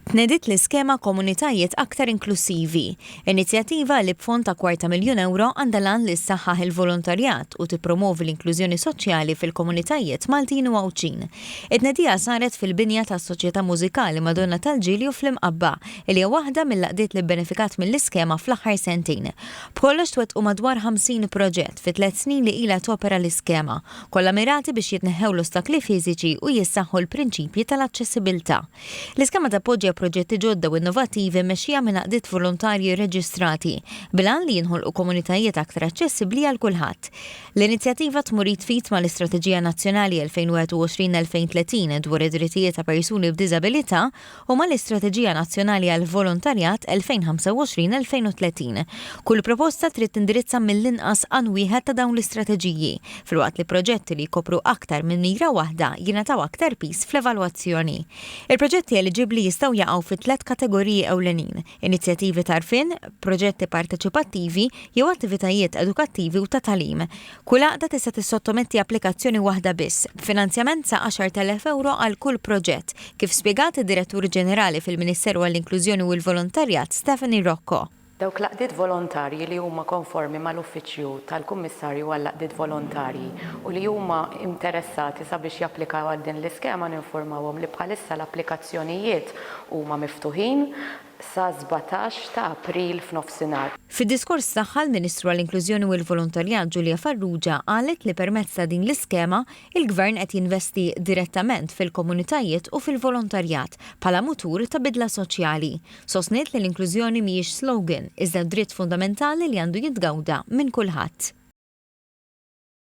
Tnediet l-iskema Komunitajiet Aktar Inklussivi, inizjattiva li b'fond ta' kwarta miljun ewro għandha l-għan li ssaħħaħ il-volontarjat u tippromwovi l-inklużjoni soċjali fil-komunitajiet Maltin u Għawdxin. It-tnedija saret fil-binja tas-Soċjetà Mużikali Madonna tal-Ġilju fl-Imqabba, li hija waħda mill-għaqdiet li bbenefikat mill-iskema fl-aħħar sentejn. B'kollox twettqu madwar 50 proġett fit-tliet snin li ilha topera l-iskema, kollha mirati biex jitneħħew l-ostakli fiżiċi u jissaħħu l-prinċipji tal-aċċessibiltà. L-iskema tappoġġja proġetti ġodda u innovattivi mmexxija minn għaqdiet volontarji rreġistrati, bil-għan li jinħolqu komunitajiet aktar aċċessibbli għal kulħadd. L-inizjattiva tmur id f'id mal-Istrateġija Nazzjonali 2021-2030 dwar id-Drittijiet ta' Persuni b'Diżabilità u mal-Istrateġija Nazzjonali għall-Volontarjat 2025-2030. Kull proposta trid tindirizza mill-inqas għan wieħed ta' dawn l-istrateġiji, filwaqt li proġetti li jkopru aktar minn mira waħda jingħataw aktar piż fl-evalwazzjoni. Il-proġetti eliġibbli jistgħu jaqgħu fi tliet kategoriji ewlenin, inizjattivi t'għarfien, proġetti parteċipattivi jew attivitajiet edukattivi u ta' tagħlim. Kull għaqda tista' tissottometti applikazzjoni waħda biss, b'finanzjament sa 10,000 ewro għal kull proġett, kif spjegat id-Direttur Ġenerali fil-Ministeru għall-Inklużjoni u l-Volontarjat Stephanie Rocco. Dawk l-għaqdiet volontarji li huma konformi mal-Uffiċċju tal-Kummissarju għall-Għaqdiet Volontarji u li huma interessati sabiex japplikaw għal din l-iskema ninfurmawhom li bħalissa l-applikazzjonijiet huma miftuħin sa sbatax ta' April f'nofsinhar. Fid-diskors tagħha l-Ministru għall-Inklużjoni u l-Volontarjat Julia Farrugia qalet li permezz ta' din l-iskema Il-Gvern qed jinvesti direttament fil-komunitajiet u fil-volontarjat bħala mutur ta' bidla soċjali. Sostniet li l-inklużjoni mhijiex slogan, iżda dritt fundamentali li għandu jitgawda minn kulħadd.